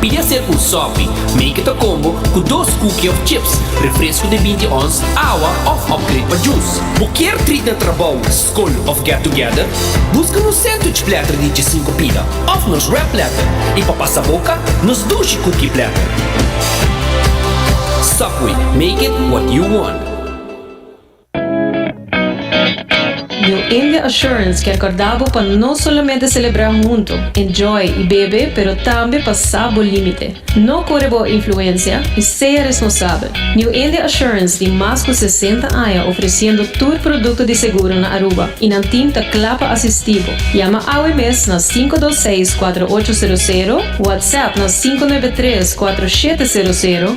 Pidi a ser un sopi, make it a combo, cu dos cookie of chips, refresco de binti ons, awa of upgrade pa juice. Bo kier treat na trabou, scol of get together? Busca nos sandwich platter di djesinco pida of nos wrap platter y pa pasa boca, nos dushi cookie platter. Subway, make it what you want. New India Assurance kier corda bo pa no solamente celebra hunto, enjoy y bebe pero tambe pa sa bo limite. No core bo influencia y sea responsabel. New India Assurance tin mas cu sesenta aña ofreciendo tur producto di seguro na Aruba y nan team ta cla pa asisti bo. Yama awe mes na sinku dos seis kuater ocho sero sero, WhatsApp na sinku nuebe tres kuater shete sero sero,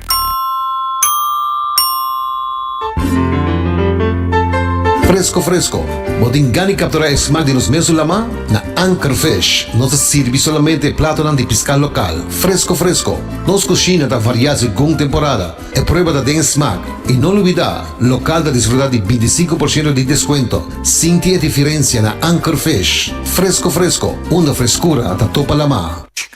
Fresco fresco! Bo tin gana di captura e smaak di nos mes su lama? Na Anchor Fish nos ta sirbi solamente e platonan di pisca local, fresco fresco! Nos cushina ta varia segun temporada, e prueba ta den e smaak. Y no lubida, local ta disfruta di binti i sinku por shento di descuento! Sinti e diferencia na Anchor Fish! Fresco fresco! Unda frescura ta topa lama.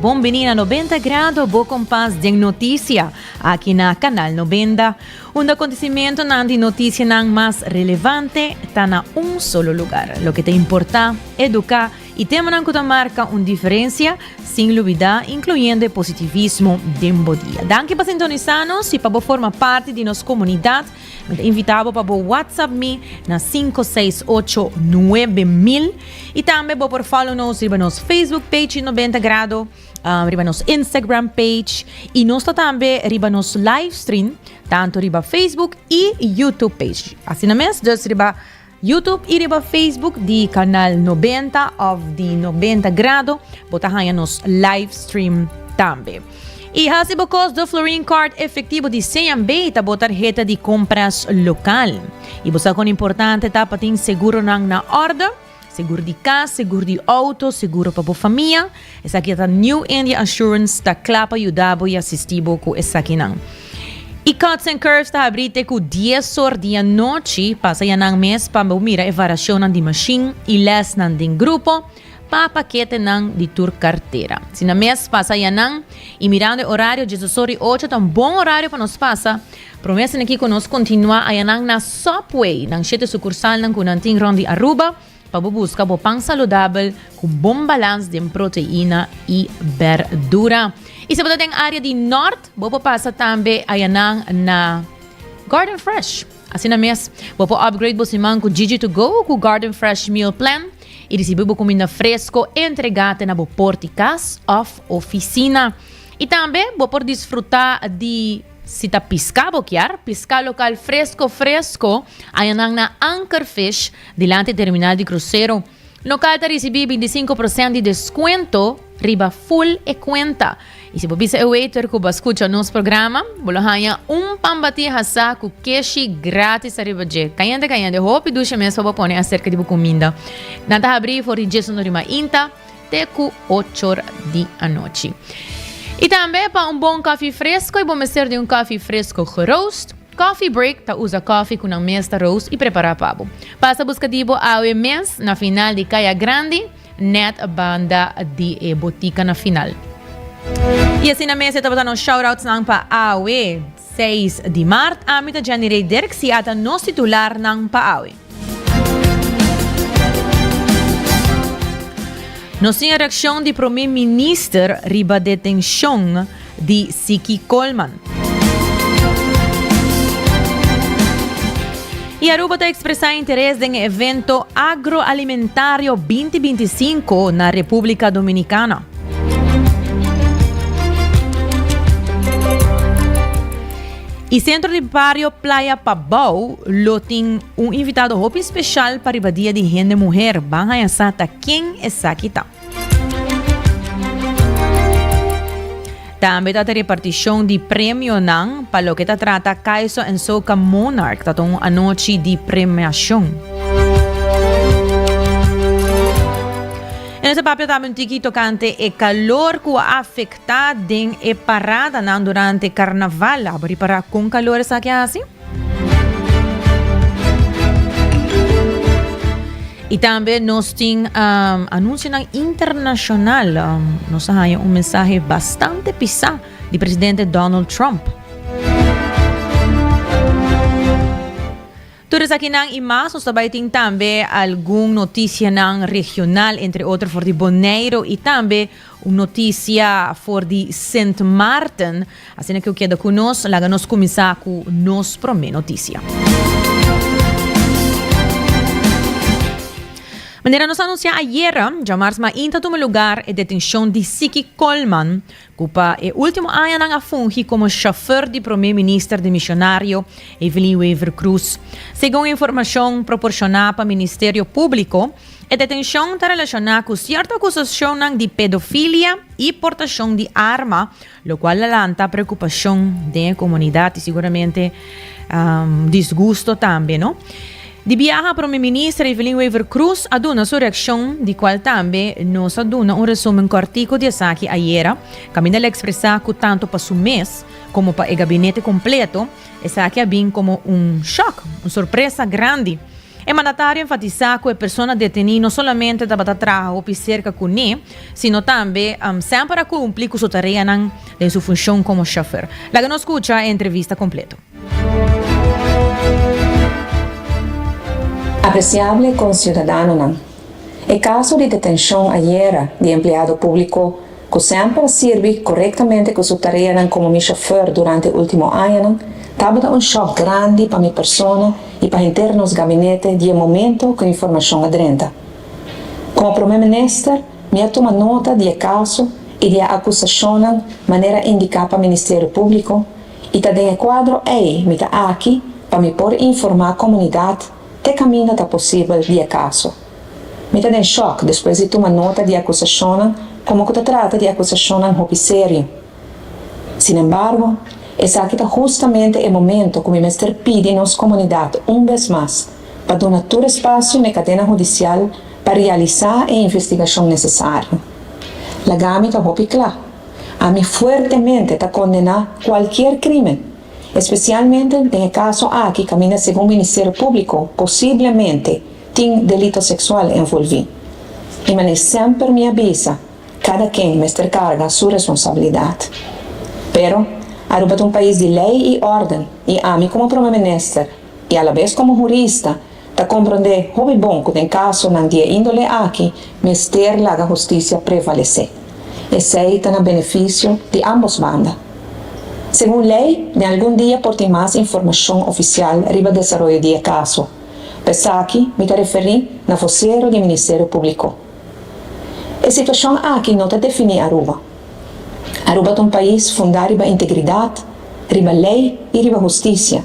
Bon bini na Nobenta Grado, bo kompas den notisia, aki na Kanal Nobenda, unda kontisimentunan di notisianan mas relevante ta na un solo lugar. Loke ta importá, eduká i temanan ku ta marka un diferensia, sin lubidá inkluyendo e positivismo den bo dia. Danki pa sintonisá nos i pa bo forma parti di nos komunidat. Mi ta invitá bo pa bo whatsapp mi na sinku seis ocho nuebe mil i tambe bo por follow nos riba nos Facebook page di Nobenta Grado, ah, riba nos Instagram page i nos ta tambe riba nos livestream tantu riba Facebook i YouTube page. Asina mes, dus riba. Youtube y riba Facebook di Canal Nobenta of di Nobenta Grado bo ta haña nos live stream tambe. Y haci bo cos do Florin Card Efectivo di CNB ta bo tarheta di compras local. Y bo sa con importante ta pa tin seguronan na orde, seguro di cas, seguro di auto, seguro pa bo famia, Esaki ta New India Assurance ta kla pa yuda bo y asisti bo cu esakinan. Y Cuts and Curves ta habri te cu dies or di anochi, pasa ya nan mes pa bo mira e variacionnan di machine y lesnan den grupo pa paketenan di tur cartera. Si nan mes pasa ya nan y mirando e horario dies or y ocho ta un bon horario pa nos pasa, prome sineki cu nos continua ayanan na Subway, nan shete sucursalnan cu nan tin rond di Aruba, Pa bo buska bo pan saludabel cu bon balans den proteina y berdura. Y si bo ta den area di Nort, bo por pasa tambe ayanan na Garden Fresh. Asina mes, bo por upgrade bo siman cu Gigi to go cu Garden Fresh Meal Plan y ricibi bo cuminda fresco entrega te na bo poort di cas of oficina. Y tambe bo por disfruta di, si ta pisca bo kier, pisca local fresco fresco ayanan na Anchor Fish, Dilanti terminal di krusero, lokal ta risibí bintisinku prosènt di deskuento riba ful e kuenta. I si bo bisa e waiter ku bo a skucha nos programa, bo lo haña un pan batí hasá ku keshi grátis ariba dje. Kayente kayente, hopi dushe mes pa bo pone aserka di bo kuminda. Nan ta habrí for di djes norimainta te ku ochor di anochi. I tambe pa un bon kofi fresko, i bo mester di un kofi fresko geroast. Coffee Break ta usa koffie ku nan mes ta roast i prepará pa bo. Pasa buska di bo awe mes na final di kaya grandi nèt banda di e botika na final. I asina mes e tabata nos shoutoutsnan pa awe seis di mart. Ami ta Jenny Rey Dirk, si a ta nos titularnan pa awe. Nos tin e reaccion di Prome Minister riba detencion di Siki Colman. Y Aruba ta expresa interes den e evento Agroalimentario binti binti sinku na Republica Dominicana. I sentro di bario Playa Pabou lo tin un invitado hopi special pa riba dia di hende muher. Ban haña sa ta ken esaki ta. Tambe ta ta reparticion di premionan pa loke ta trata Kaiso en Soca Monarch. Ta ta un anochi di premiacion. En ese papia también tiki tocante e calor cu a afecta. Ta den e paradanan durante karnaval a bo ripará kon kalor esaki a hasi? I tambe nos tin anunsionan internashonal. Nos a haña un mensahe bastante pisá di presidente Donald Trump. Tur esakinan i mas nos ta bai tin tambe algun notisianan regional entre otro for di Boneiru i tambe un notisia for di Sint Maarten. Asina ke u keda ku nos, laga nos kuminsá ku nos promé notisia. Manera nos anunsiá ayera, djamarz mainta tuma lugar e detenshon di Siki Colman, ku pa e último añanan a fungi komo shofèr di promé minister di Misionario, Evelyn Wever Croes. Segun informashon proporshoná pa Ministerio Públiko, e detenshon ta relashoná ku sierto akusashonnan di pedofilia i portashon di arma, lokual a lanta preokupashon den e komunidat i siguramente disgusto tambe. Di biaha Prome Minister Evelyn Wever Croes a duna su reaccion, di cual tambe nos a duna un resumen cortico di esaki ayera, caminda el a expresa cu tanto pa su mes como pa e gabinete completo esaki a bin como un shock, un sorpresa grandi. E mandatario enfatisa cu e persona deteni no solamente tabata traha hopi cerca cu ne, sino tambe semper a cumpli cu su tareanan den su funcion como chofer. Laga nos scucha e entrevista completo. Apresiable conciudadanonan, E caso di detencion ayera di empleado publico cu semper a sirbi corectamente cu su tareanan como mi chauffeur durante ultimo añanan tabata un shock grandi pa mi persona y pa henter nos gabinete di e momento cu informacion a drenta. Como Prome Minister mi a tuma nota di e caso y di e acusacionnan manera indica pa Ministerio Publico, i ta den e kuadro ei mi ta aki pa mi por informá komunidat te kaminda ta posibel di e kaso. Mi ta den shòk despues di tuma nota di e akusashonnan komo ku ta trata di akusashonnan hopi serio. Sinembargo, esaki ta hustamente e momento ku mi mester pidi nos komunidat un bes mas pa duna tur espasio na e kadena hudisial pa realisá e investigashon nesesario. Lagami ta hopi kla. Ami fuertemente ta kondená kualkier krímen, espesialmente den e kaso aki kaminda segun Ministerio Públiko posiblemente tin delito seksual envolví. I manera semper mi a bisa, kada ken mester karga su responsabilidat. Pero, Aruba ta un pais di lei i órden i ami komo Prome Minister i alabes komo hurista, Ta komprondé hopi bon ku den kasonan di e índole aki mester laga hustisia prevalesé. Esei ta na benefisio di ámbos banda. Segun lei, den algun dia por tin mas informashon ofisial riba desaroyo di e kaso. Pa esaki mi ta referí na vosero di Ministerio Públiko. E situashon aki no ta definí Aruba. Aruba ta un pais fundá riba integridat, riba lei i riba hustisia.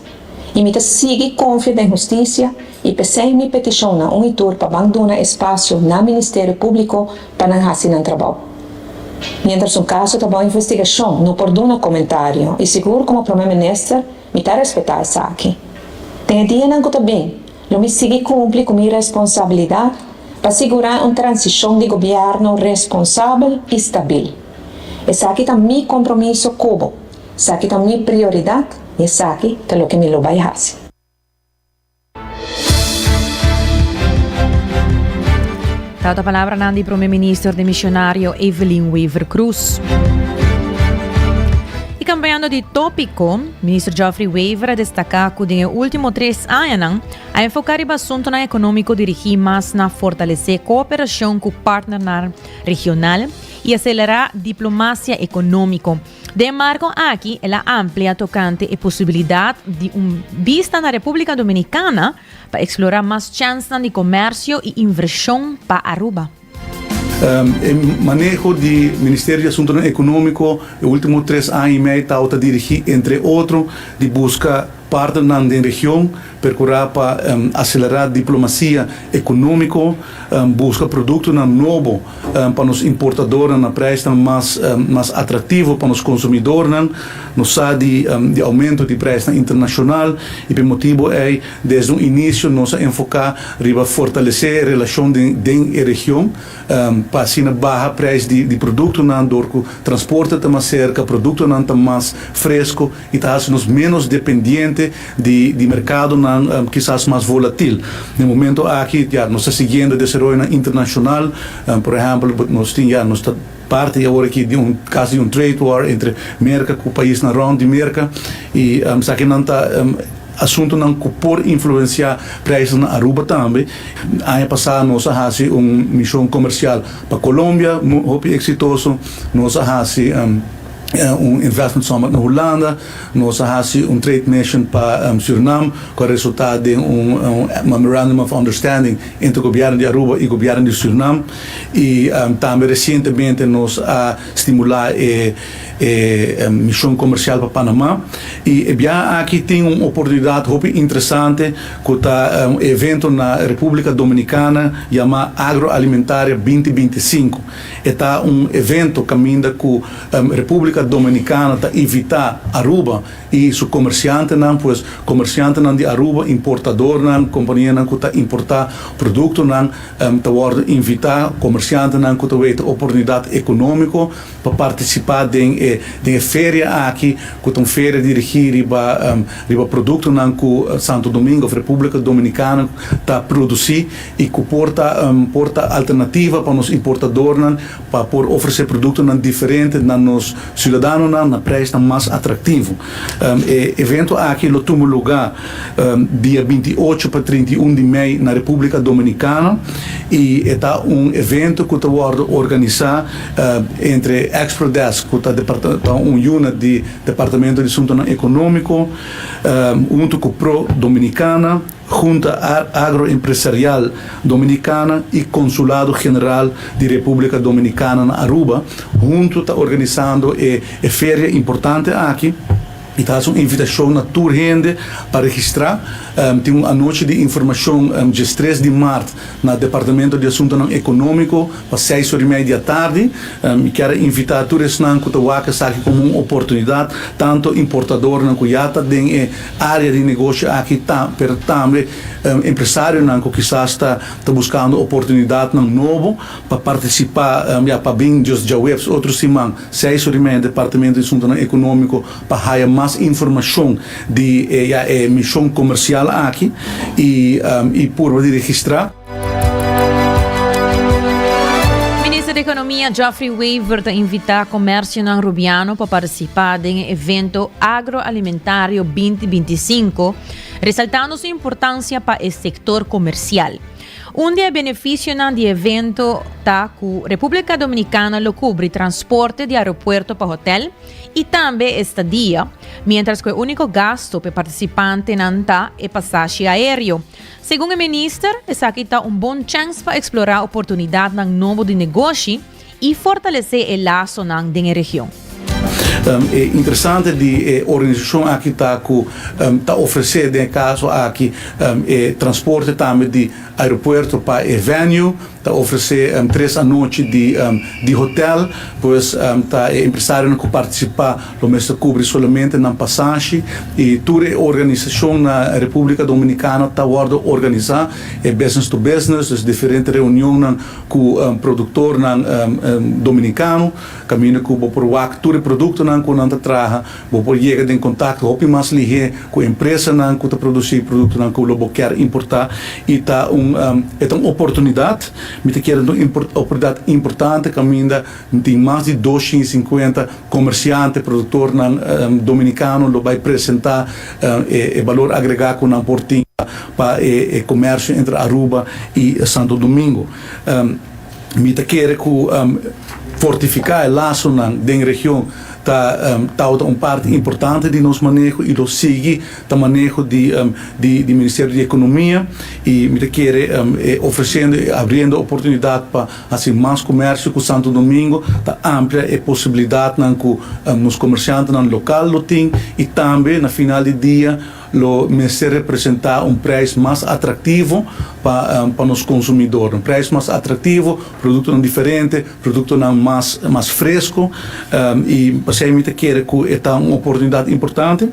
I mi ta sigui konfia den hustisia i p'esei mi petishon na un i tur pa ban duna espasio na Ministerio Públiko pa nan hasi nan trabou. Miéntras un kaso ta bajo investigashon no por duna komentario i sigur komo Prome Minister mi ta respetá esaki. Den e dianan ku ta bin lo mi sigui kumpli ku mi responsabilidat pa sigurá un transishon di gobièrnu responsabel i stabil. Esaki ta mi kompromiso kubo. Saki ta mi prioridad y esaki ta loke mi lo bay haci. Tau ta palabranan di Prome Minister Demisionario Evelyn Wever-Croes. Y cambiando di topico, Minister Geoffrey Wever a destaca cu den e ultimo tres añanan a enfoca riba asuntonan economico dirigi mas na fortalece cooperacion cu partnernan regional y acelera diplomacia economico, Den marco aki el a amplia tocante e posibilidad di un bista na Republica Dominicana pa explora mas chansnan di comercio y inversion pa Aruba. E maneho di Ministerio di Asuntonan Economico e ultimo tres aña y mei tawata dirigi entre otro di busca partnernan den region Percurá pa acelerá diplomacia economico, busca productonan nobo pa nos importadornan na prijsnan mas mas atractivo pa nos consumidornan. Nos sa di di aumento di prijsnan internacional y p'e motibo ey desde un inicio nos a enfocá riba fortalecé e relacion den den e region pa asina baha prijs di di productonan dor cu transporte ta mas cerca, productonan ta mas fresco y ta haci nos menos dependiente di di mercadonan kisas mas volatil. Den momento aki ya nos ta siguiendo e desaroyonan internacional, por ehempel nos tin ya nos ta parti awor aki di un casi di un trade war entre Merca cu paisnan rond di Merca y esakinan ta asuntonan cu por influencia prijsnan na Aruba tambe. Aña pasa nos a haci un mision comercial pa Colombia hopi exitoso, nos a haci. Un investment summit na Hulanda. Nos a hasi un trade mission pa Surinam cu a resulta den un Memorandum of Understanding entre Gobierno di Aruba y Gobierno di Surinam. Y tambe recientemente nos a stimula e mision comercial pa Panama. Y e biaha aki tin un oportunidad hopi interesante cu ta un evento na Republica Dominicana yama Agroalimentaria binti binti i sinku. E ta un evento caminda cu Republica Dominicana ta invita Aruba y su comerciantenan, pues comerciantenan di Aruba, importadornan, companianan cu ta importa productonan ta wordo invita, comerciantenan cu ta weten oportunidad economico pa participa den e den e feria aki cu ta un feria dirigi riba riba productonan cu Santo Domingo of Republica Dominicana ta produci. y cu por ta un por ta alternativa pa nos importadornan pa por ofrece productonan diferente na nos ciudadanonan na prijsnan mas atractivo. E evento aki lo tuma luga dia binti i ocho pa trinta i un di mei na Republica Dominicana y e ta un evento cu ta wordo organisa entre Exprodesk, cu ta ta un unit di Departamento di Suntonan Economico, hunto cu Pro Dominicana. Hunta Agroempresarial Dominicana y Consulado General di Republica Dominicana na Aruba hunto ta organisando e e feria importante aki y ta haci un invitacion na tur hende pa registra. Tin un anochi di informacion diestres di maart na Departamento di Asuntonan Economico pa seis ora y media di atardi. Mi kier a invita tur esnan cu ta wak esaki como un oportunidad tanto importadornan cu ya ta den e área di negoshi aki ta, pero tambe empresarionan ku kisas ta ta buskando oportunidatnan nobo pa partisipá ya pa bin dios djaweps otro siman seis horimedia Departamento di Asuntunan Ekonómiko pa haya mas informashon di e ya e mishon komersial aki i purba di registrá. Minister di Ekonomia Geoffrey Wever ta invitá komèrsionan Rubiano pa partisipá den e evento Agroalimentario binti binti i sinku, resaltando su importansia pa e sektor komersial. Un di e benefisionan di e evento ta ku Repúblika Dominikana lo kubri transporte di aeropuerto pa hotèl i tambe estadia, miéntras ku e úniko gasto pa e partisipantenan ta e pasashi aéreo. Segun e minister, esaki ta un bon chèns pa eksplorá oportunidatnan nobo di negoshi i fortalesé e lasonan den e region. E interesante di e organisashon aki ta ku ta ofresé den e kaso aki e transporte tambe di aeropuerto pa e venue, Ta ofresé tres anochi di hotel, pues ta e empresarionan ku partisipá lo mester kubri solamente nan pasashi i tur e organisashon na Republika Dominikana ta wòrdu organisá e business to business, dus diferente reunionnan ku produktornan dominikano kaminda ku bo por wak tur e produktonan ku nan ta traha. Bo por yega den kontakto hopi mas lihé ku empresanan ku ta produsí produktonan ku lo bo kèr importá i ta un e ta un oportunidat. Mi ta kere ta un oportunidat importante kaminda tin mas di dos shin sinkuenta komersiante, produktornan dominikano lo bai presentá e balor agregá ku nan por tin pa e komersio entre Aruba i Santo Domingo. Mi ta kere ku fortifiká e lasonan den region ta tawata un parti importante di nos maneho i lo sigui ta maneho di Ministerio di Ekonomia i mi ta kere ofresendo i abriendo e oportunidat pa hasi mas komersio ku Santo Domingo, ta amplia e posibilidatnan ku nos komersiantenan lokal lo tin i tambe na final di dia, lo mester representa un prijs mas atractivo pa pa nos consumidor, un prijs mas atractivo, productonan diferente, productonan mas mas fresco, y pasey mi ta kere cu e ta un oportunidad importante.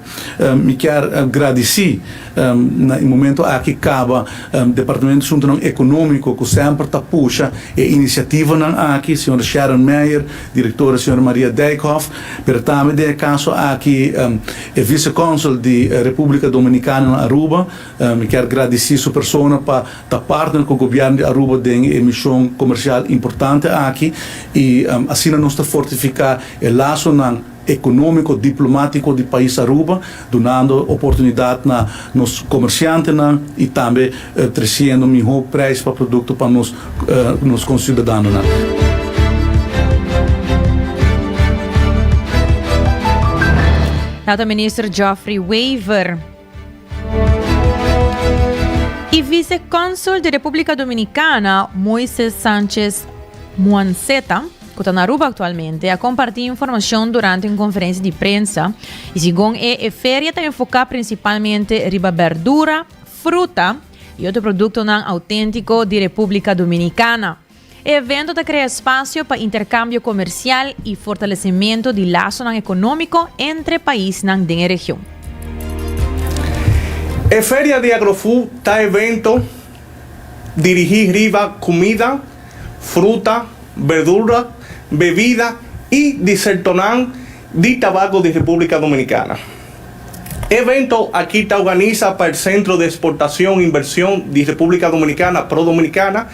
Mi kier gradici na e momento aki caba Departamento Asuntonan Economico cu semper ta pusha e iniciativanan aki, Señor Sharon Meyer, Directora Sra. Maria Dijkhoff, pero tambe den e caso aki e Vice-Consul di Republica Dominicana na Aruba. Mi kier gradici su persona pa ta partner cu Gobierno di Aruba den e mision comercial importante aki y asina nos ta fortifica e lazonan economico, diplomatico di pais Aruba, dunando oportunidad na nos comerciantenan y tambe treciendo miho prijs pa producto pa nos conciudadanonan. Nota Minister Geoffrey Wever. I Vice-Consul di Republica Dominicana, Moises Sanchez Muanceta, cu ta na Aruba actualmente, a comparti informacion durante un conferencia di prensa y segun e e feria ta enfoca principalmente riba berdura, fruta y otro productonan autentico di Republica Dominicana. E evento ta krea spasio pa interkambio komersial i fortalesimentu di lasonan ekonómiko entre paisnan den e region. E Feria di Agrofood ta evento dirigí riba kumida, fruta, berdura, bebida i disertonan di tabako di Repúblika Dominikana. E evento aki ta organisa pa el Sentro di Esportashon i Invershon di Repúblika Dominikana, Prodominikana,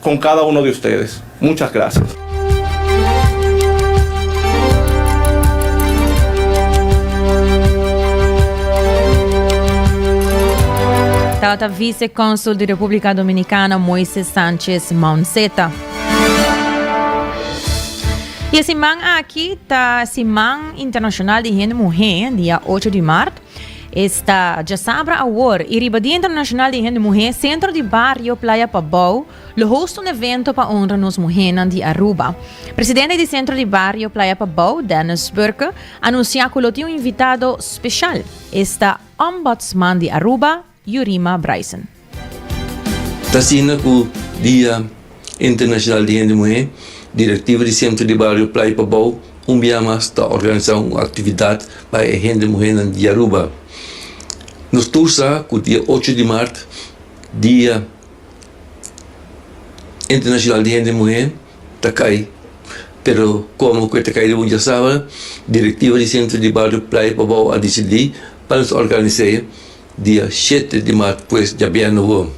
Con cada uno di ustedes. Muchas gracias. Tabata Vice Consul di Republica Dominicana Moises Sanchez Mounceta. Y e siman aki ta Siman Internacional di Hende Muhe, dia ocho di mart. Esta djasabra awor y riba Dia Internacional di Hende Muhé, Centro di Bario Playa Pabou lo hosta un evento pa honra nos muhénan di Aruba. Presidente di Centro di Bario Playa Pabou, Dennis Burke, anuncia cu lo tin un invitado special, esta Ombudsman di Aruba, Yurima Bryson. Ta asina ku Dia Internashonal di Hende Muhé, direktiva di Sentro di Bario Playa Pabou un bia mas ta organisá un aktividat pa e hende muhénan di Aruba. Nos tur sa ku dia ocho di mart, Dia Internashonal di Hende Muhé, ta kai. Pero komo ku e ta kai riba un diasabra, direktiva di Sentro di Bario Playa Pabou a disidí pa nos organis'é. Dia shete di maart pues dja bia no won.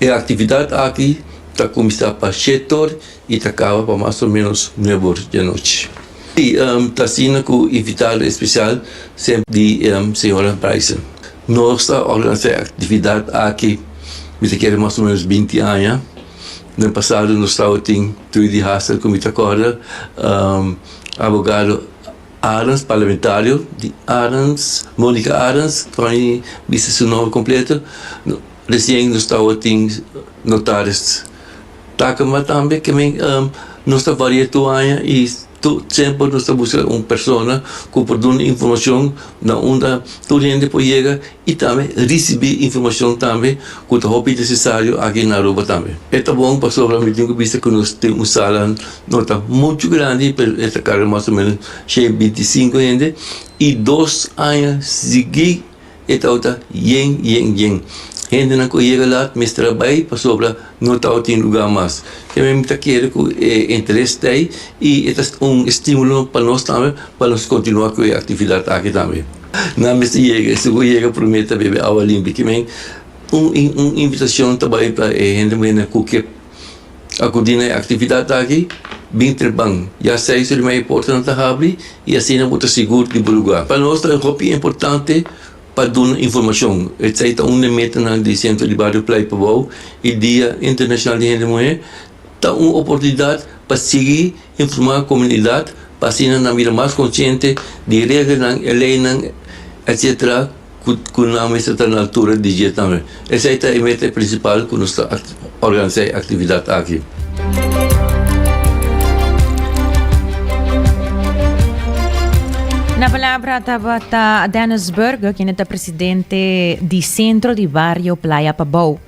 E aktividat aki ta kuminsá pa shete or i ta kaba pa mas o ménos nuebe or di anochi. I ta asina ku invitado espesial semper di señora Bryson. Nos ta organisá e aktividat aki mi ta kere mas o ménos binti aña. Den pasado nos tabatin Trudy Hassel ku mi ta kòrda, abogado. Adams, Parlamentario di Adams, Monica Adams, Troy bisa su nomber completo, recien nos tawo tin Notaris Takema tambe ke men nos ta varia tur aña y tur semper nos ta busca un persona cu por duna informacion na unda tur hende por yega. y tambe ricibi informacion tambe cu ta hopi necesario aki na Aruba tambe. E ta bon pasobra mi tin cu bisa cu nos tin un sala no ta mucho grandi pero e ta carga mas o menos shei binti sinku hende y dos aña sigui e tawata yen yen yen hendenan cu a yega la mester a bay pasobra no tawa tin lugar mas e men mi ta kere cu e interes ta ayi y e ta un estimulo pa nos tambe pa nos continua cu e actividad aki tambe. Nan mester yega, e segun yega promé ta bebe awa limpi. Kimen un i un invitashon ta bai pa e hende muhénan ku ke akudí na e aktividat aki? Bin treban ya seis ora di maya e portanan ta habri i asina bo ta sigur di bo lugá. Pa nos ta hopi importante pa duna informashon. Esei ta un di e metanan di Sentro di Bario Pleipabou i Dia Internashonal di Hende Muhé ta un oportunidat pa sigui Informa e komunidat pa asina nan bira mas konshente di regelnan, e leinan etc. Ku nan mester ta na altura di dje tambe. Esei ta e meta prinsipal ku nos ta organisá e aktividat aki. Na palabra tabata Dennis Burger, kende ta presidente di Sentro di Bario Playa Pabou.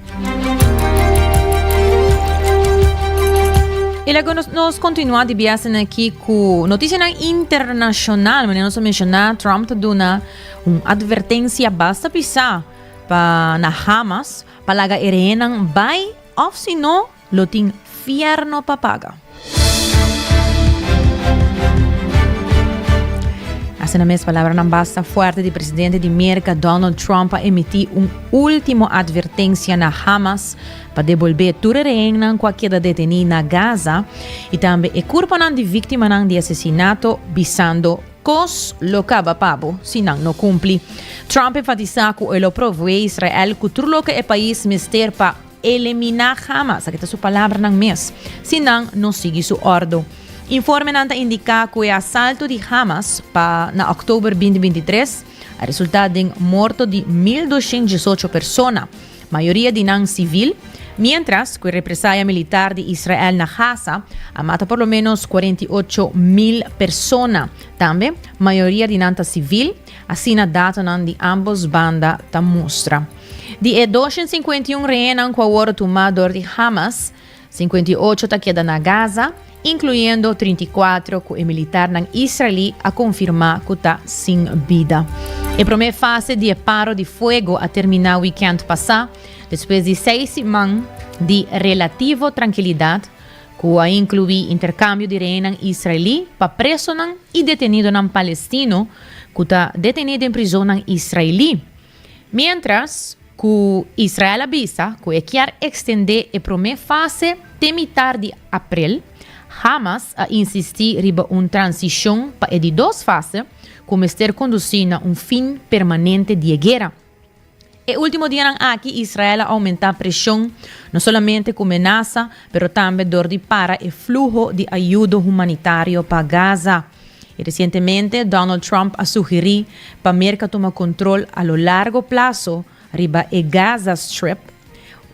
Y luego nos, nos continua di biasen aquí cu noticianan internacional. Mane nos menciona Trump te duna un advertencia basta pisa pa na Hamas pa laga e rehenan bay of si no Lo tin fierno pa paga. Asina mes palabranan basta fuerte di presidente di Merca Donald Trump pa emiti un ultimo advertencia na Hamas pa debolbe tur e rehennan cu a keda deteni na Gaza y tambe e curponan di victimanan di asesinato bisando cos lo caba pa bo si nan no cumpli. Trump enfatisa cu e lo provee Israel cu tur loke e pais mester pa eliminá hamas, aki ta su palabranan mes, si nan no sigui su òrdu. Informenan ta indiká ku e asalto di Hamas pa na òktober binti binti i tres a resultá den morto di mil dushent diesocho persona, mayoria di nan sivil, miéntras ku e represaya militar di Israel na Gaza a mata por lo ménos kuarenta i ocho mil persona, tambe mayoria di nan ta sivil. Asina datonan di ambos banda ta mustra. Di e doscientos cincuenta y un rehénan ku awor tumá dor di Hamas, sinkuenta i ocho ta keda na Gaza, inkluendo trinta i kuatro ku e militarnan israelí a konfirmá ku ta sin bida. E promé fase di e paro di fuego a terminá wikènt pasá, despues di seis siman di relativo trankilidat, ku a inkluí interkambio di rehenan israelí pa presonan i detenidonan palestino ku ta detené den prizonnan israelí, miéntras ku Israel a bisa ku e kier ekstendé e promé fase te mitar di aprel. Hamas a insistí riba un transishon pa e di dos fase, ku mester kondusí na un fin permanente di e guera. E último dianan aki Israel a oumentá preshon, no solamente ku menasa, pero tambe dor di para e fluho di ayudo humanitario pa Gaza. I resientemente Donald Trump a sugerí pa Merka tuma kontrol a lo largo plaso riba e Gaza Strip,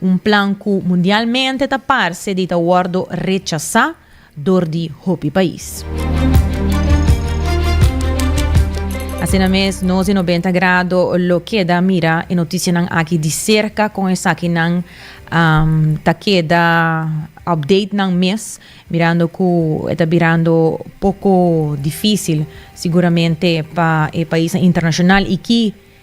un plan ku mundialmente ta parse di ta wòrdu rechasá dor di hopi pais. Asina mes, nos di Nobenta Grado lo keda mira e notisianan aki di serka kon esakinan um, ta keda update nan mes, mirando ku e ta birando poko difisil siguramente pa e paisnan internashonal i ki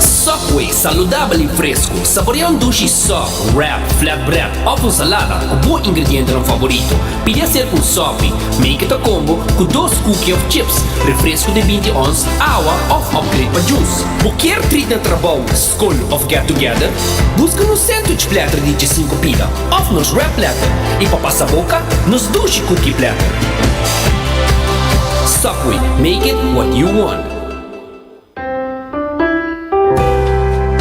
Subway, saludabel i fresku. Saborea un dushi sòp, wrap, flatbread òf un salada ku bo ingredientenan favorito. Pidi a ser ku un sòpi, make it a combo, ku dos kuki òf chips, refresku di binti ons, awa òf upgrade pa jus. Bo kier trit na trabou, skol òf get together? Buska nos sandwich platter di djesinku pida òf nos wrap platter, i pa pasa boka, nos dushi kuki platter. Subway, make it what you want.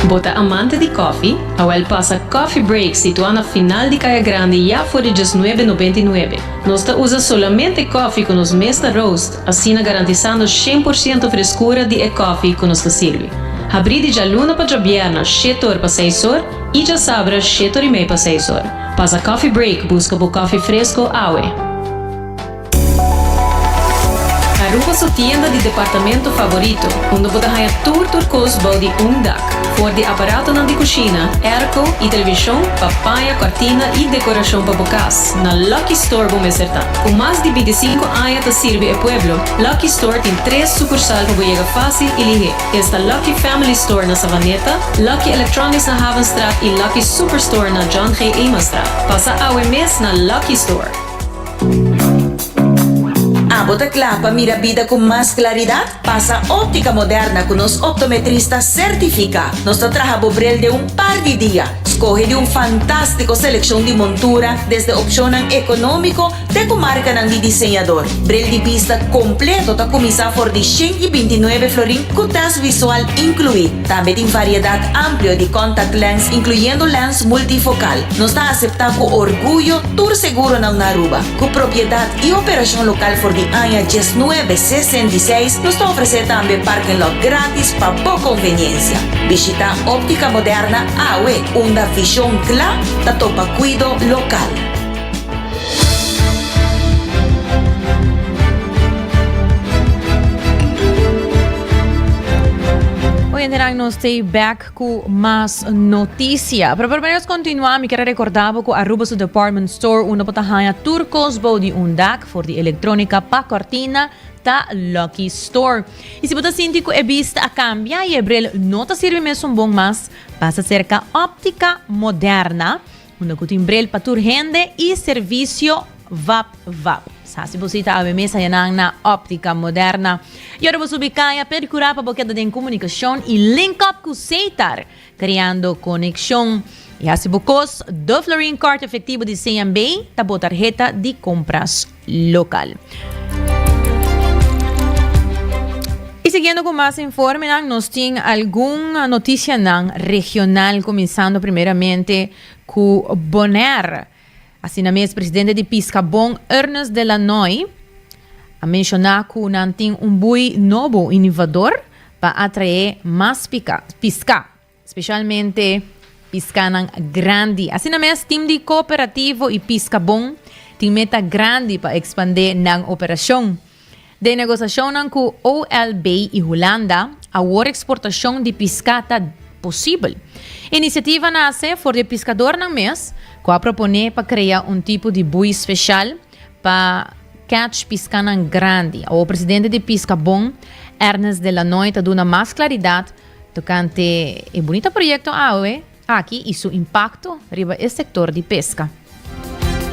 Bo ta amante di kòfi? Awèl pasa Coffee Break situá na final di Kaya Grandi ya for di djes nuebe nobenta i nuebe. Nos ta usa solamente kòfi ku nos mes ta roast, asina garantisando shen por siento freskura di e kòfi ku nos ta sirbi. Habrí di djaluna pa djabièrna shete or pa seis or i djasabra shete or i mei pa seis or. Pasa Coffee Break buska bo kòfi fresko awe. Aruba su tienda di departamento favorito, unda bo ta haña tur tur kos bou di un dak. For di aparatonan di kushina, airco i televishon pa paña kòrtina i dekorashon pa bo kas, na Lucky Store bo mester ta. Ku mas di binti sinku aña ta sirbi e pueblo, Lucky Store tin tres sukursal pa bo yega fásil i lihé. Esta Lucky Family Store na Savaneta, Lucky Electronics na Havenstraat i Lucky Superstore na John G. Emanstraat. Pasa awe mes na Lucky Store. Abo ta kla pa mira bida ku mas klaridat? Pasa Óptica Moderna ku nos optometrista sertifiká. Nos ta traha bo bril den un par di dia. Skohe di un fantástiko selekshon di montura, desde opshonnan ekonómiko te ku markanan di diseñador. Bril di bista kompleto ta kuminsá for di shen i binti nuebe florin ku tèst visual inkluí. Tambe tin variedat amplio di contact lens incluyendo lens multifocal. Nos ta acepta cu orguyo tur seguronan na Aruba. Cu propiedad y operacion local for di aña diesnuebe sesen di seis, nos ta ofrece tambe parking lot gratis pa bo conveniencia. Bishita Optica Moderna awe, unda vision cla ta topa cuido local. Oyentenan nos stay back ku mas noticia. Pero primero nos continua, mi kere recorda bo ku Aruba su department store unda bo ta haya tur kos bou di un dak for di electronica pa cortina ta Lucky Store. Y si bo ta sinti ku e bista a cambia y e bril no ta sirbi mesun bon mas, pasa cerca Optica Moderna. Unda ku tin brel pa tur hende i servisio vap vap. Sa si bo sita awe mes haya nan na Optica Moderna. I ora bo subi kaya, perkurá pa bo keda den komunikashon i link up ku Seitar, kreando konekshon. I hasi bo kos, Duflurine Kort Efektibo di CNB ta bo tarheta di kompras. local. Y siguiendo cu mas informenan nos tin algun noticianan regional cuminsando primeramente cu Bonaire. Asina mes presidente di Piscabon Ernest de Lannoy a menciona cu nan tin un bui nobo inivador pa atrae mas pisca. Specialmente piscanan grandi. Asina mes team di Cooperativo y Pisca Bon tin meta grandi pa expande nan operacion. Den negociacionnan cu OLB y Hulanda, awor exportacion di pisca ta posibel. Iniciativa nace for di e piscadornan mes cu a propone pa crea un tipo di bui special pa catch piscanan grandi. Awor presidente di Pisca Bon, Ernest Delanoy ta duna mas claridad Tocante e bunita proyecto awe aki y su impacto riba e sector di pesca.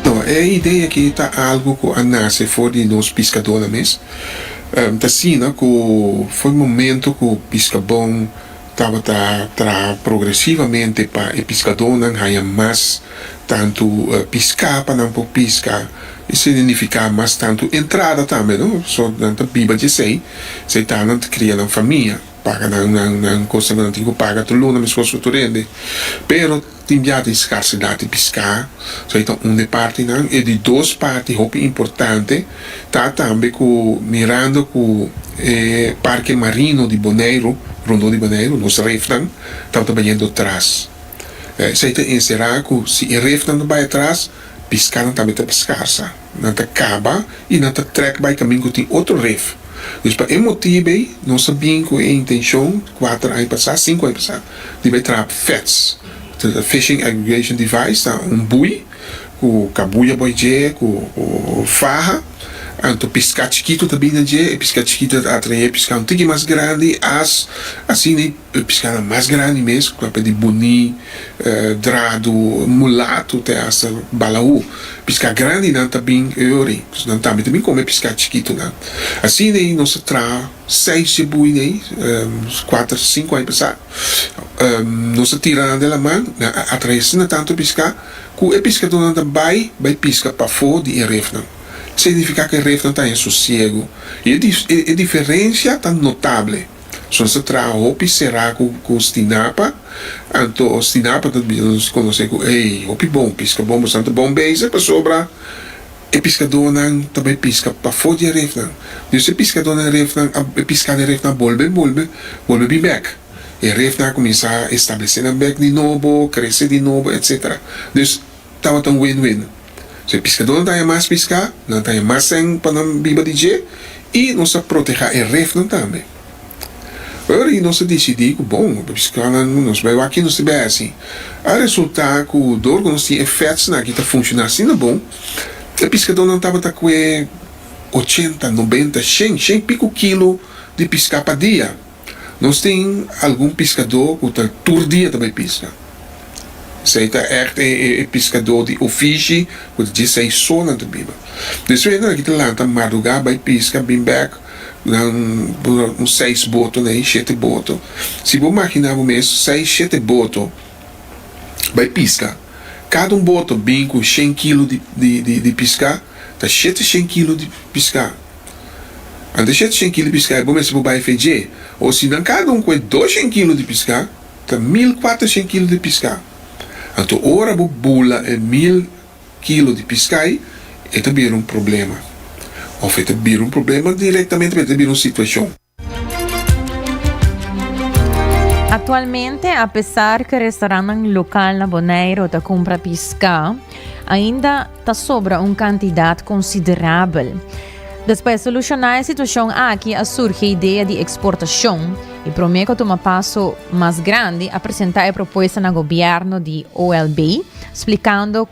No, e idea aki ta algo cu a nace for di nos piscadornan mes. Ta asina cu for e momento cu Piscabon tabata traha progresivamente pa e piscadornan haya mas tanto pisca pa nan por pisca y significa mas tanto entrada tambe, no. So nan ta biba di esey, esey ta nan ta cria nan famia. Paga nan kostanan tin ku paga tur luna meskos ku tur rende pero tin bia tin skarsidat di piská so e ta un di partinan e di dos parti hopi importante ta tambe ku mirando ku e parke marino di Boneiru rondó di Boneiru nos refnan tabata bayendo tras esei ta enserá ku si e refnan ta bai atras piskanan tambe ta skarsa. Nan ta kaba i nan ta trèk bai kamin ku tin otro ref. Dus pa e motibu ei nos a bin ku e intenshon kuater aña pasá, sinku aña pasá, di bai traha pa FADS. Fishing Aggregation Device ta un bui ku kabuya bo dje ku faha. Anto piská chikitu ta bini dje. E piská chikitu ta atraé piská un tiki mas grandi, as, asina. E piscana mas grandi mes, cu a p'e di buní, drado, mulato te hasta balaú. Piscá grandinan ta bin e ora ei. Nos nan tambe ta bin come e piscá chikitonan. Asina ei nos a traha seis djebui n'ei, cuater, cinco aña pasá. Nos a tira nan delaman, nan a atraé asina tanto piscá cu e piscadonan ta bai, bai pisca pafó di e refnan. Significá cu e refnan ta haña sosiego. I e diferencia ta notable. So nos ta traha hopi será cu cu stinapa, anto stinapa ta bisa nos conoce cu ey hopi bon pisca bon boso nan ta bon bezig pasobra e piscadonan ta bay pisca pafo di e refnan dus e piscadonan e refnan a e piscado e refnan a bolbe a bolbe bolbe bin bek e refnan a cuminsa establece nan bek di nobo crece di nobo etcetera dus tabata un win-win. So e piskadónan ta haña mas piská, nan ta haña mas sèn pa nan biba di dje i nos ta protehá e refnan tambe. Ora nos a disidí ku bon, e piskadónan ku nos bai wak nos ta bai hasi, a resultá ku dor ku nos tin e fètsnan aki ta funshoná asina bon, e piskadónan tabata kue ochenta, nobenta, shen, shen i piku kilo di piská pa dia. Nos tin algun piskadó ku ta tur dia ta bai piska. Esei ta ègt e piskadó di ofishi ku ta dje saisó nan ta biba. Despues nan aki ta lanta madrugá bai piska, bin bèk nan pone un seis boto nei, shete boto. Si bo maginá bo mes seis, shete boto bai piska, kada un boto bin ku shen kilo di piská, ta shete shen kilo di piská. Antes dje cien kilo di piská e bo mester bo bai fe dje, o sinan kada un ku e dos cien kilo di piská ta mil kuater cien kilo di piská. Anto ora bo bula e mil kilo di piská ei, e ta bira un problema. Òf e ta bira un problema direktamente, pero e ta bira un situashon. Aktualmente apesar ke restorannan lokal na Boneiru ta kumpra piská, ainda ta sobra un kantidat konsiderabel. Dus pa e solushoná e situashon aki a surgi e idea di eksportashon i promé ku a tuma paso mas grandi a presentá e propuesta na gobièrnu di OLB splikando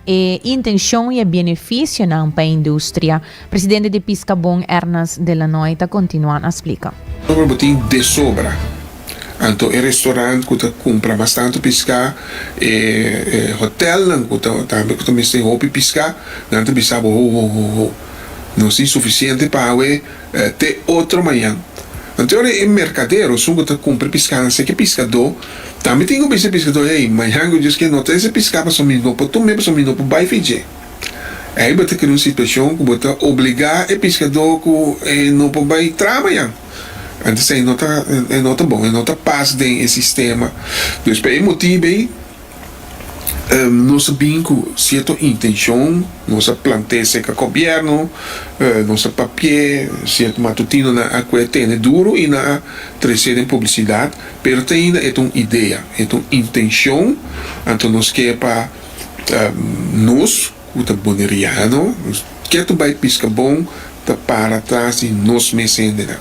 e intencion y e beneficionan pa e industria, presidente di Piscabon Ernest de Lannoy ta continua na splica. Sombra bo tin desobra, anto e restaurant cu ta cumpra bastante pisca, e hotelnan cu ta tambe cu ta mester hopi pisca, nan ta bisa bo, ho, ho, ho, ho, nos tin suficiente pa awe, te otro mañan. Anto ahora e mercadero sun cu ta cumpra piscana si ke piscado tambe tin cu bisa e piscado hey mañan cu djis ke no ta ese pisca pasobra mi no por tume pasobra mi no por bay fi dje. Ey bo ta crea un situacion cu bo ta obliga e piscado cu e no por bay traha mañan. Entonces ey no ta ey no ta bon ey no ta pas den e sistema. Pues pa e motibo ey. Nos a bini cu cierto intencion, nos a plant'e cerca gobierno, nos a papi'e, cierto matutinonan a cu e tene duro y nan a trece den publicidad, pero ta ainda e ta un idea, e ta un intencion, anto nos ke pa nos. ku ta boneriano, nos ke ta bai piska bon, ta para atras di nos mes hendenan.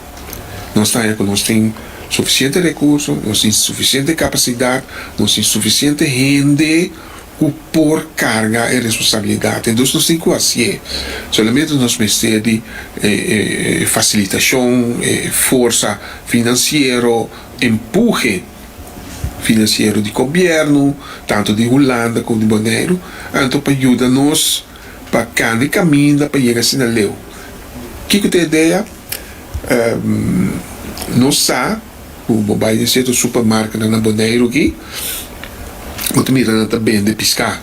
Nos ta haña ku nos tin sufisiente rekurso, nos tin sufisiente kapasidat, nos tin sufisiente hende ku por karga e responsabilidat. Entos nos tin ku hasié. Solamente nos mester di e fasilitashon, e forsa finansiero, empuje. finansiero di gobièrnu, tantu di Hulanda komo di Boneiru, anto pa yuda nos pa kanda e kaminda pa yega asina leu. Kiko ta e idea? Nos sa ku bo bai den sierto supermarketnan na Boneiru aki, bo ta mira nan ta bende piskà.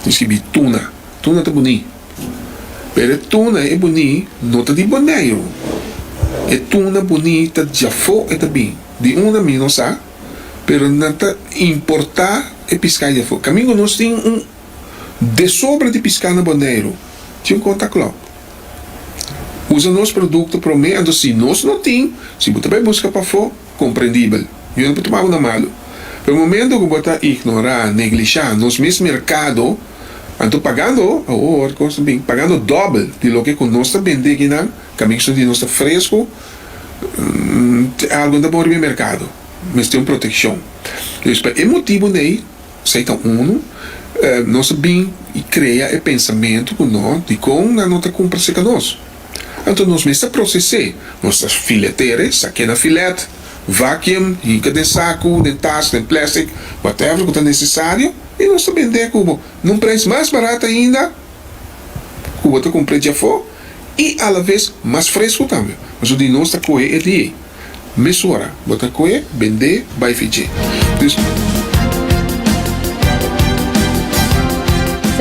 Bo sibi tuna, tuna ta boni, pero e tuna e boni no ta di Boneiru, e tuna boni ta di afó e ta bin. Di unda mi no sa, pero nan ta importá e piská di afó. Kamingo nos tin un desobra di piská na Boneiru, tin un konta klòk. Usa nos produkto promé, anto si nos no tin, si bo ta bai buska pafó, komprendibel, mi no por tuma bo na malu. Pero momento ku bo ta ignorá, neglishá nos mes merkado, anto pagando, awo hoor kos ta bin, pagando dòbel di loke ku nos ta bendé kinan, kaminso di nos ta fresku, te algo ta bon riba e merkado mester un protekshon dus pa e motibu nei esei ta unu nos a bin i krea e pensamentu ku no dikon nan no ta kumpra seka nos anto nos mester proses'é nos ta fileter'é sak'é na filèt vacuum hinka den saku den tas den plastic whatever ku ta nesesario i nos ta bend'é ku bo na un preis mas barat ainda ku bo ta kumpr'é djafó. i alaves mas fresku tambe. Pasobra di nos ta kohe e di ei. Mesora bo ta kohe, bend'é, bai fi dje. Dus.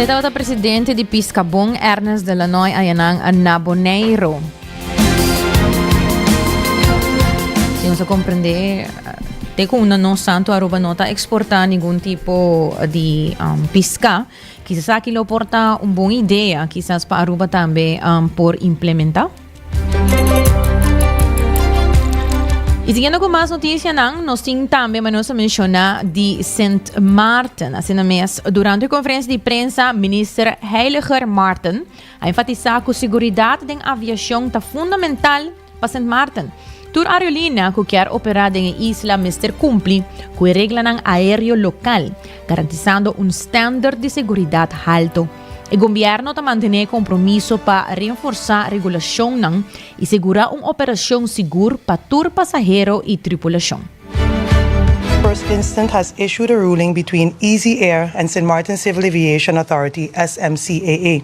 E tabata presidente di Piscabon, Ernest de Lannoy ayanan na Boneiro. Si nos a comprende te cu una no santo Aruba no ta exporta ningun tipo di um, pisca. Kisas aki lo por ta un bon idea, kisas pa Aruba tambe por implementa. Y siguiendo cu mas noticianan, nos tin tambe ma nos a menciona di Sint Maarten. Asina mes, durante conferencia di prensa, Minister Heiliger Maarten a enfatisa cu seguridad den aviacion ta fundamental Pa Sint Maarten, tur aerolínea ku kier operá den e isla mester kumpli ku e reglanan aéreo lokal, garantisando un stènderd di seguridat haltu. E gombierno ta mantené e kompromiso pa renforsá regulashonnan i segurá un operashon sigur pa tur pasahero i tripulashon. First Instance has issued a ruling between Easy Air and Sint Maarten Civil Aviation Authority, SMCAA.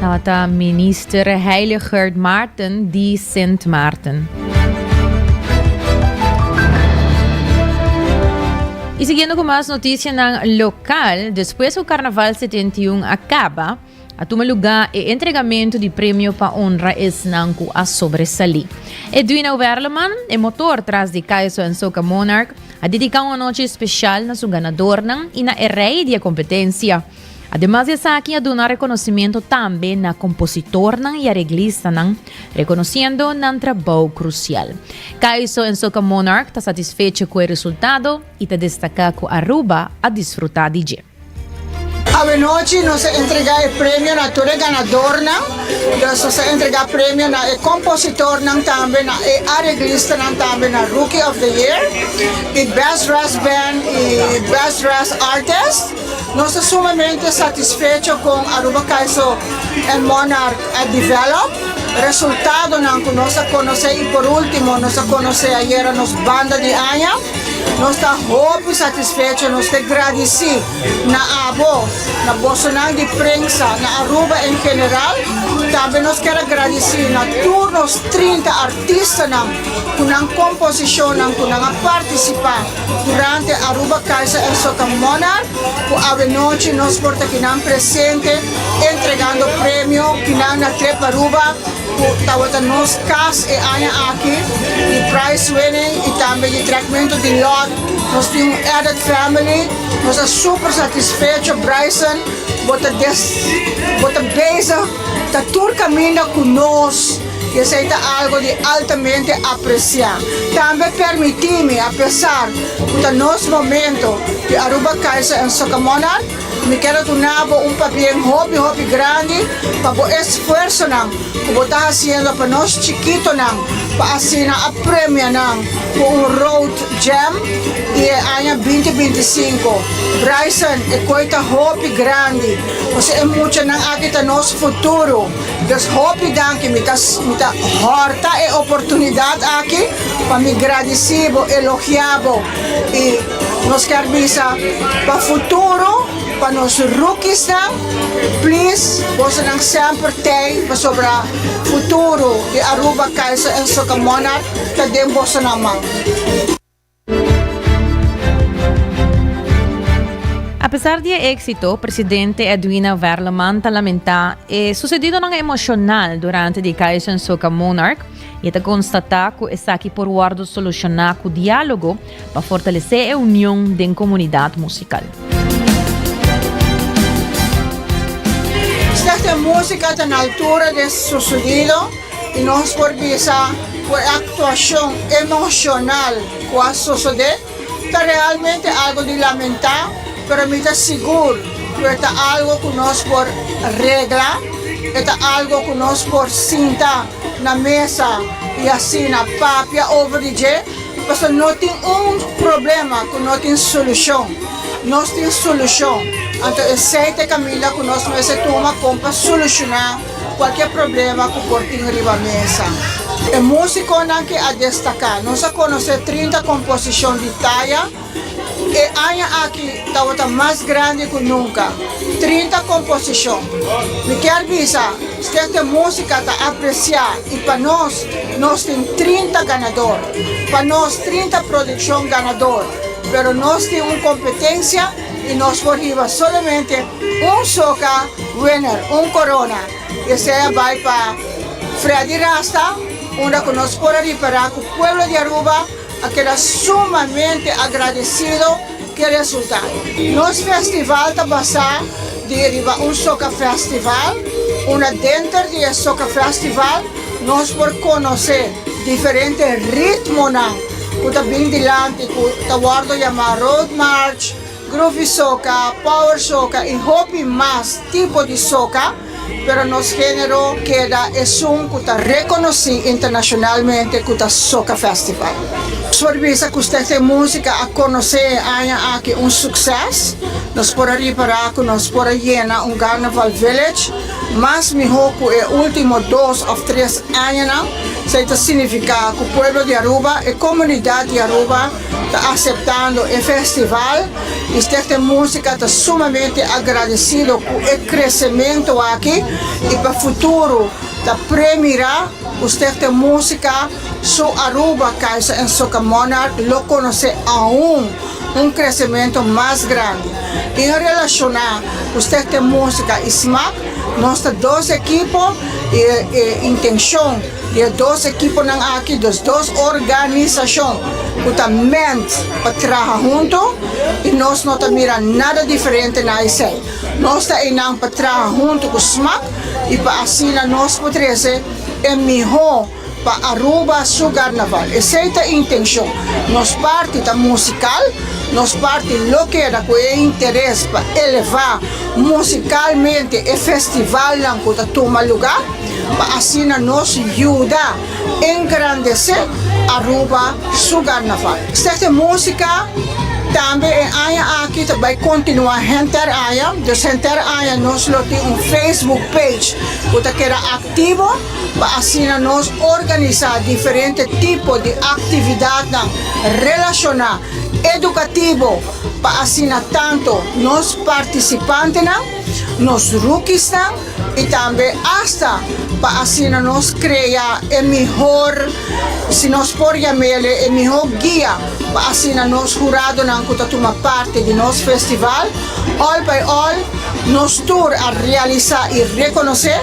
Tabata minister Heiligerd Maarten di Sint Maarten. Y siguiendo cu mas noticianan local, despues cu Carnaval 71 a caba, A tuma lugá e entregamentu di premio pa onra esnan ku a sobresalí. Edwina Werleman, e motor tras di Kaiso en Soca Monarch, a dediká un anochi espeshal na su ganadornan i na e rei di e kompetensia. Ademas di esaki a duna rekonosementu tambe na kompositornan i areglistanan, rekonosiendo nan trabou krusial. Kaiso en Soca Monarch ta satisfecho ku e resultado i ta destaká ku Aruba a disfrutá di dje. Awenochi nos a entrega e premio na tur e ganadornan. Nos a entrega premio na e compositornan tambe, na e areglistanan tambe na Rookie of the Year y Best Ras Band y Best Ras Artist. Nos ta sumamente satisfecho con Aruba Kaiso and Monarch a develop, resultadonan cu nos a conoce y por ultimo nos a conoce ayera nos banda di aña. Nos ta hopi satisfecho, nos ta gradisí na abo, na bosonan di prensa, na Aruba en general. Tambe nos ker a gradisí na tur nos trinta artistanan ku nan komposishonnan ku nan a partisipá durante Aruba Kaiser en Soca Monarch, ku awenochi nos por ta kinan presente entregando premio kinan na trep Aruba. cu tawata nos cas e aña aki, di prize winning y tambe di tratmento di lot. Nos tin un added family, nos ta super satisfecho Bryson, bo ta des, bo ta bezig ta tur caminda cu nos y esey ta algo di altamente aprecia. Tambe permiti mi, a pesar cu ta nos momento di Aruba Kaiser and Soccer Monarch, Mi ker a duna bo un pabien hopi hopi grandi pa bo esfuersonan ku bo ta hasiendo pa nos chikitonan pa asina a premia nan ku un Road Jam i e aña binti binti i sinku. Bryson, E koi ta hopi grandi, pasobra e muchanan aki ta nos futuro. Des hopi danki, mi ta mi ta hòrta e oportunidat aki pa mi gradisí bo, elogiá bo i. Nos ker bisa pa futuro pa nos rookiesnan please bosonan semper tei pasobra futuro di Aruba Kaiser and Soccer Monarch ta den bosonan man. Apesar di e éksito, presidente Edwina Verleman ta lamentá e susedidonan emoshonal durante di Kaiser and Soccer Monarch i e ta konstatá ku esaki por wòrdu solushoná ku diálogo, pa fortalesé e union den komunidat musikal. Slechts de música ta na altura de su sonido y nos por bisa cu e actuacion emocional cu a sosode ta realmente algo di lamenta, pero mi ta sigur cu e ta algo cu nos por regla, e ta algo cu nos por sinta. na mesa y asina papia over di dje pasobra no tin un problema cu no tin solucion nos tin solucion anto esey ta e camino cu nos mester tuma con pa soluciona cualkier problema cu por tin riba mesa. E musiconan ke a destaca nos a conoce trinta composicion di taya. E aña aki tabata mas grandi ku nunka, trinta komposishon. Mi kier bisa skete músika ta apresiá i pa nos, nos tin trinta ganador. Pa nos trinta produkshon ganador, pero nos tin un kompetensia i nos por hiba solamente un soka winner, un korona, i esei a bai pa Freddy Rasta, unda ku nos por a ripará ku pueblo di Aruba, A keda sumamente agradecido cu e resultado. Nos festival ta basa di riba un soca festival, unda denter di e soca festival nos por conoce diferente ritmonan cu ta bin dilanti cu ta wordo yama Road March, Groovy Soca, Power Soca y hopi mas tipo di soca. Pero nos genero keda esun cu ta reconoci internacionalmente cu ta Soca Festival. Nos por bisa cu Stichting Musica a conoce e aña aki un succes. Nos por a ripara cu nos por a yena un Garnaval Village mas miho cu e ultimo dos of tres añanan. Esey ta significa cu pueblo di Aruba, e comunidad di Aruba, ta aseptando e festival y Stichting Musica ta sumamente agradecido cu e crecemento aki y pa futuro ta pre mira cu Stichting Musica su Aruba Kaiser and Soca Monarch lo conoce aun un crecemento mas grandi y en relaciona cu Stichting Musica y SMAC nos ta dos ekipo y e intencion Di e dos ekiponan aki dos dos organisashon ku ta ment pa traha huntu i nos no ta mira nada diferente na esei. Nos ta einan pa traha huntu ku smak i pa asina nos por trese e mihó pa Aruba su Karnaval. Esei ta e intenshon. Nos parti ta musikal, nos parti lo keda ku e interes pa elevá musikalmente e festivalnan ku ta tuma lugá. pa asina nos yuda engrandesé Aruba su garnaval. Sese músika tambe e aña aki ta bai kontinuá henter aña, dus henter aña nos lo tin un Facebook page ku ta keda aktivo pa asina nos organisá diferente tipo di aktividatnan relashoná edukativo pa asina tantu nos partisipantenan, nos rukisnan, i tambe asta pa asina nos krea e mihor, si nos por yam'el e mihó guia, pa asina nos huradonan ku ta tuma parti di nos festival, òl bai òl, nos tur a realisá i rekonosé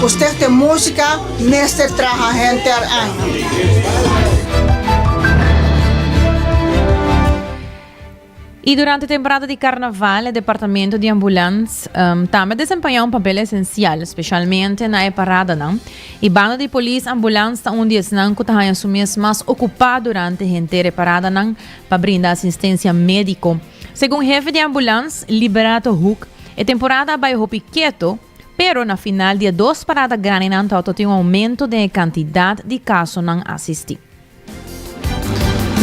ku Stichting Música mester traha henter aña. I durante temporada di karnaval e departamento di ambulans tambe a desempañá un papel esensial, speshalmente na e paradanan. E bando di polis ambulans ta un di esnan ku ta haña su mes mas okupá durante henter e paradanan pa brinda asistensia médiko. Segun hefe di ambulans, Liberato Hoek, e temporada a bai hopi keto, pero na final di e dos parada grandinan ta ototin un oumento den e kantidat di kasonan asistí.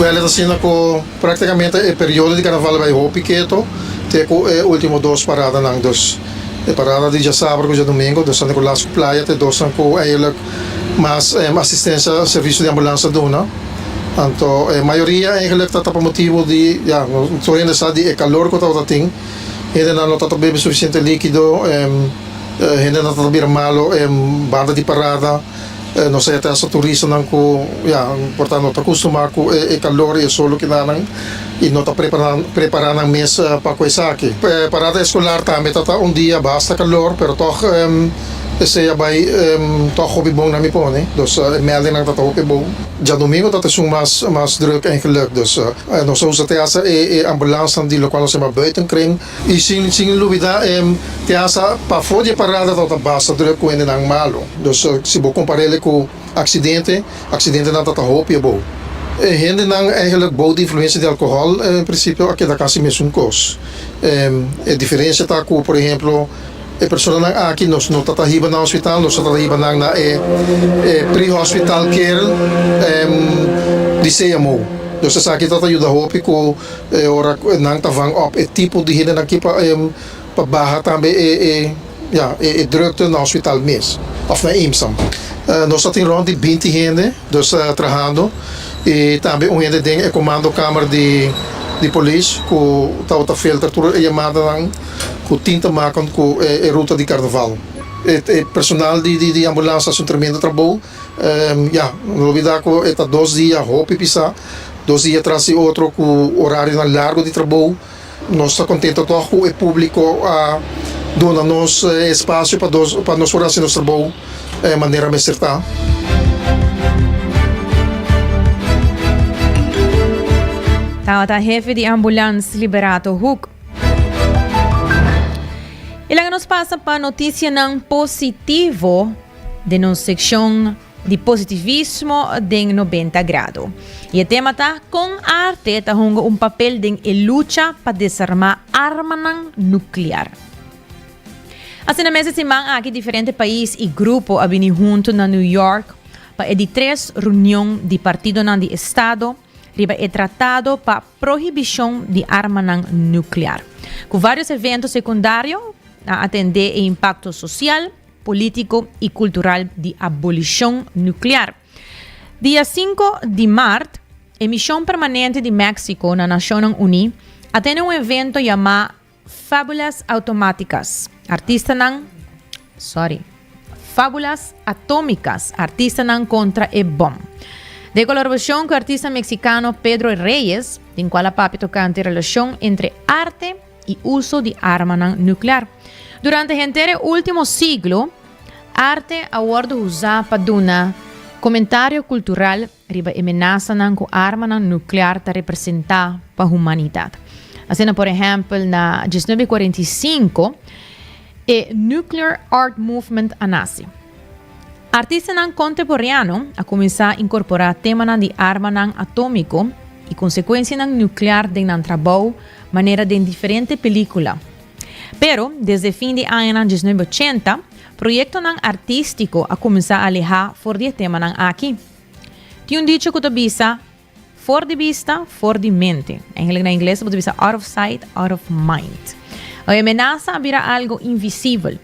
Wèl et asina ku praktikamente e periodo di karnaval a bai hopi keto te ku e ultimo dos paradanan dus e parada di djasabra ku djadumingu dos anti ku las ku playa te dosnan ku eigenlijk mas asistensia servisio di ambulansia duna anto e mayoria eigenlijk ta ta pa motibu di ya tur hende sa di e kalor ku tabata tin hendenan no ta ta bebe sufisiente likido hende nan ta ta bira malu banda di parada. E nos a yete hasta turistanan cu ya por ta no ta custumá cu e calor y e sol loke nanan y no ta prepara prepara nan mes pa cu esaki. E parada escolar tambe ta ta un dia basta calor pero tog esey a bay tog hopi bon na mi pone dus e meldingnan ta ta hopi bon. Djadomingo ta ta esun mas mas druk en geluk dus nos a usa te hasta e e ambulansnan di locual nos a yama buitenkring. I sin sin lubidá e teasa pafó di e parada ta ta basta tur e kuendenan malu. Nos si bo kompará el ku aksidente, aksidente-nan ta ta hopi abou. E hendenan ègèlèk bou di influensia di alkohòl e prinsipio a keda kasi mesun kos. E diferensia ta ku por ehemplo e personanan aki nos no ta ta hiba na hospital, nos ta ta hiba nan na e e pre-hospital care di Seamou. Nos esaki ta ta yuda hopi ku. E ora cu nan ta van op e tipo di hende aki pa pa baha tambe e e ja e e drukte na hospital mes of na IMSAM. Nos ta tin rond di binti hende dus trahando y tambe un hende den e comando kamer di di polis cu tabata filter tur e yamadanan cu tin ta makan cu e e ruta di carnaval. E e personal di di di ambulance ta haci un tremendo trabou. Ya, no olbida ku e ta dos dia, hopi bisa, dos dia tras di otro ku orarionan largu di trabou. Nos ta kontentu tòg ku e públiko a duna nos e espasio pa dos pa nos por hasi nos trabou manera mester ta. Tabata hefi di ambulans Liberato Hoek. E laga nos pasa pa notisianan positivo. den nos sekshon di positivismo den nobenta grado. I e tema ta Kon arte ta hunga un papel den e lucha pa desarmá armanan nuklear. Asina mes e siman aki diferente pais i grupo a bini huntu na New York pa e di tres runion di partidonan di estado riba e tratado pa prohibishon di armanan nuklear, ku vários evento sekundario a atendé e impakto sosial, político y cultural di abolicion nuclear. Dia sinku di mart, e Mision Permanente di México na Nacionnan Uní a tene un evento yamá Fabulas Automáticas, Artistanan, sorry, Fábulas Atómicas, Artistanan Contra e Bom. Den colaboracion cu artista mexicano Pedro Reyes, den cual a papia tocante relacion entre arte, i uso di armanan nuklear. Durante henter e último siglo, arte a wòrdu usá pa duna komentario kultural riba e menasanan ku armanan nuklear ta representá pa humanidat. Asina por ehèmpel na dies nobe kuarenta i sinku, e Nuclear Art Movement a naci. Artistanan contemporeano a cuminsa incorpora temanan di armanan atomico y consecuencianan nuclear den nan trabou, manera den diferente pelicula. Pero, desde fin di añanan diesnuebe ochenta, proyectonan artistico a cuminsa aleha for di e temanan aki. Tin un dicho cu ta bisa, For di bista, for di mente. Eigenlijk na Ingles bo ta bisa out of sight, out of mind. Oye, menasa a bira algo invisibel.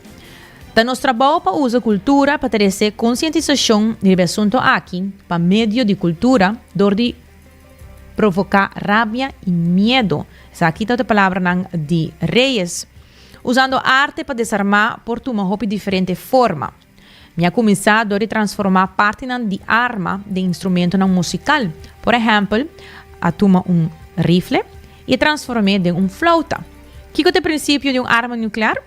Ta nos trabou pa usa kultura pa trese konsientisashon riba e asunto aki pa medio di kultura dor di provoká rabia i miedu. Esaki ta e palabranan di Reyes. Usando arte pa desarmá por tuma hopi diferente forma. Mi a kuminsá dor di transformá partinan di arma den instrumentonan musikal. Por ehèmpel, a tuma un rifle i a transform'é den un flauta. Kiko ta e prinsipio di un arma nuklear?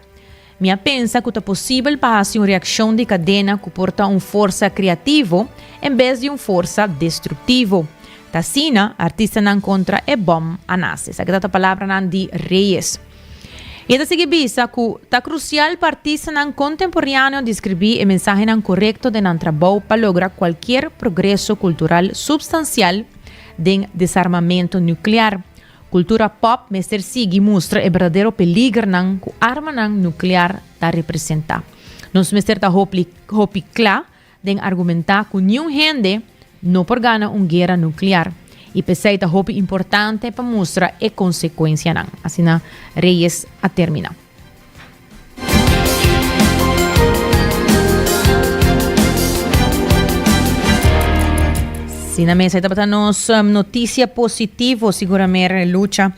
Mi a pensa ku ta posibel pa hasi un reakshon di kadena ku por ta un forsa kreativo en bes di un forsa destruktivo. Ta asina artistanan kontra e bòm a nase. Sa keda ta palabranan di Reyes. I e ta sigui bisa ku, Ta krusial pa artistanan kontemporeaneo deskribí e mensahenan korekto den nan trabou pa logra kualkier progreso kultural supstansial den desarmamentu nuklear. Kultura pòp mester sigui mustra e berdadero peligernan ku armanan nuklear ta representá. Nos mester ta hopi kla den argumentá ku niun hende no por gana un guera nuklear i p'esei ta hopi importante pa mustra e konsekuensianan, asina Reyes a terminá. Asina mes, ei tabata nos notisia positivo, sigur Amer Lucha.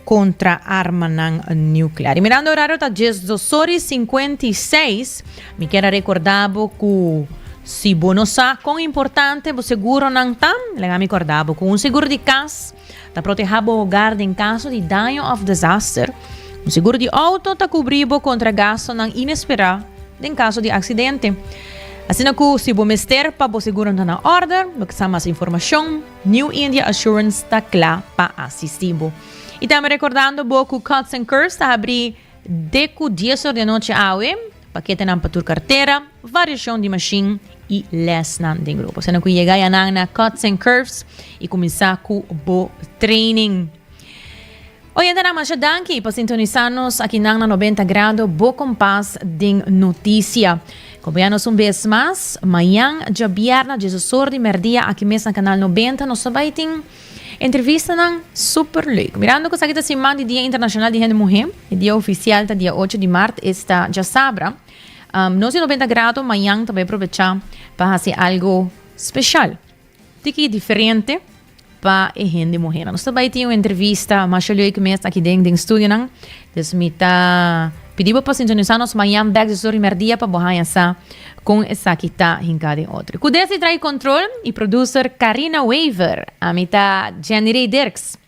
kontra armanan nuclear. Y mirando horario ta djes dosor y cincuenta y seis. Mi kier a recorda bo cu si bo no sa con importante bo seguronan ta, laga mi corda bo cu un seguro di cas ta proteha bo hogar den caso di daño of desaster. Un seguro di auto ta cubri bo contra gastonan inespera den caso di accidente. Asina cu si bo mester pa bo seguronan ta na orde, bo ke sa mas informacion. New India Assurance ta cla pa asisti bo. Y tambe recordando bo cu Cuts and Curves ta habri de cu dies or di anochi awe, paketenan pa tur cartera, variacion di machine y lesnan den grupo. Asina cu yega ya nan na Cuts and Curves y cuminsa cu bo training. Oyentenan masha danki pa sintonisa nos akinan na Noventa Grado bo kompas den noticia. Kombia nos un bes mas mañan djabièrnè diesosor di mèrdia aki mes na Kanal Noventa. Nos ta bai tin entrevistanan super leuk. Mirando ku esaki ta siman di Dia Internashonal di Hende Muhé, e dia ofisial ta dia ocho di mart, esta djasabra nos di Noventa Grado mañan ta bai probecha pa hasi algu speshal. Tiki e diferente pa e hende muhénan? Nos ta bai tin un entrevista masha luei ke mes aki den den studionan. Des mi ta pidi bo pa sintonisá nos mañan bèk di su Rimer Dia pa bo haña sa kon esaki ta hinká den otro. Ku des di Trae Control i producer Carina Wever, ami ta Jenny Rey Dirks.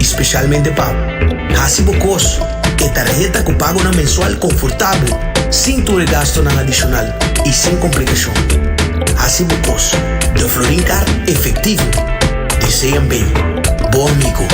i spesialmente pa hasi bo kos. E tarheta ku pagonan mensual konfortabel, sin tur e gastunan adishonal i sin komplikashon. Hasi bo kos den Florin Kaart efektivo. Desean ben, bo amigo.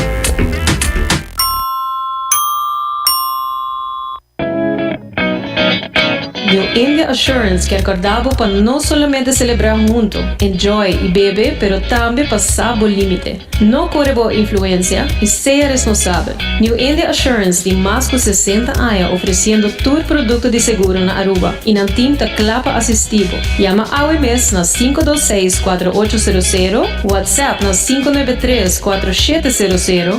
New India Assurance kier corda bo pa no solamente celebra hunto, enjoy y bebe pero tambe pa sa bo limite. No core bo influencia y sea responsabel. New India Assurance tin mas cu sesenta aña ofreciendo tur producto di seguro na Aruba y nan team ta cla pa asisti bo. Yama awe mes na sinku dos seis kuatro ocho sero sero, WhatsApp na sinku nuebe tres kuatro shete sero sero,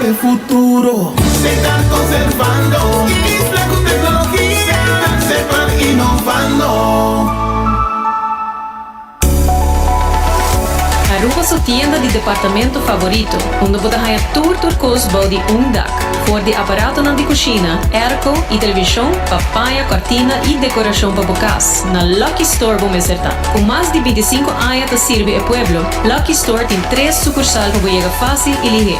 E futuro. Secar conservando. Isla cu tecnologia. Secar, separar, innovando. Aruba su tienda di departamento favorito, unda bo ta haña tur tur cos bou di un dak, for di aparatonan di cushina, airco y television pa paña cortina y decoracion pa bo cas. Na Lucky Store bo mester ta. Cu mas di binticinco aña ta sirbi e pueblo, Lucky Store tin tres sucursal pa bo yega facil y lihe.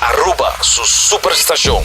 Aruba su super stacion.